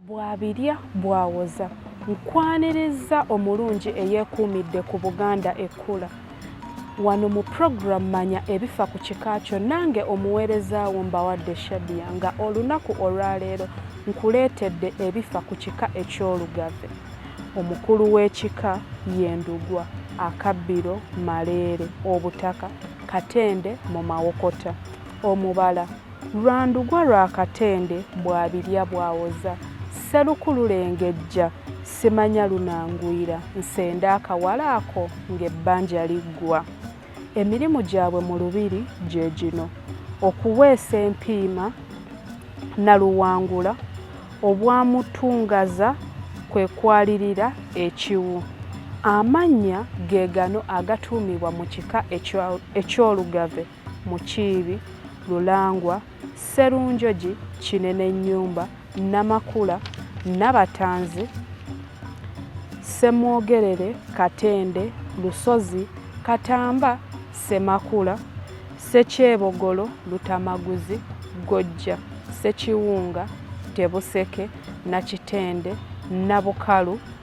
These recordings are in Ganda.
Bw'abirya bw'awoza. Nkwanirizza omulungi eyeekuumidde ku Buganda ekkula. Wano mu pulogulaamu Manya ebifa ku kika kyo nange omuweereza wo mbawadde Shadia nga olunaku olwaleero nkuleetedde ebifa ku kika eky'Olugave. Omukulu w'ekika ye Ndugwa, akabbiro Maleere, obutaka Katende mu Mawokota, omubala Lwa ndugwa lwa Katende bw'abirya bw'awoza, Sseruku lulengejja simanya lunanguyira, Nsende akawala ako ng'ebbanja liggwa. Emirimu gyabwe mu Lubiri gye gino, Okuweesa empiima, Naluwangula, Obwamutungaza kwe kwalirira ekiwu. Amannya ge gano agatuumibwa mu kika eky'Olugave. Mukiibi, Lulangwa, Sserunjogi, Kinenenyumba, Namakula, Nabatanzi, Ssemwogerere, Katende, Lusozi, Katamba, Ssemakula, Ssekyebogolo, Lutamaguzi, Ggojja, Ssekiwunga, Tebuseke, Nakitende, Nabukalu,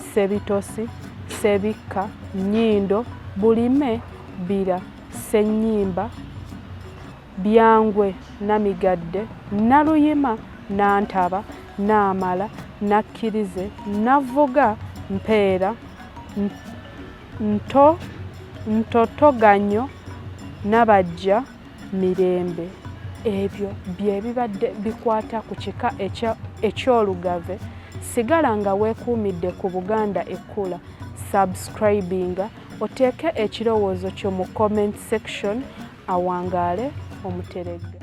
Ssebitosi, Ssebikka, Nnyindo, Bulime, Bbira, Ssennyimba, Byangwe, Namigadde, Nnaluyima, Nantaba, Naamala, Nakkirize, Navvuga, Mpeera, Nto, Ntotoganyo, Nabajja, Mirembe. Ebyo bye bibadde bikwata ku kika eky'Olugave. Sigala nga weekuumidde ku Buganda Ekkula. Subscribinga oteeke ekirowoozo kyo mu comment section awangaale Omuteregga.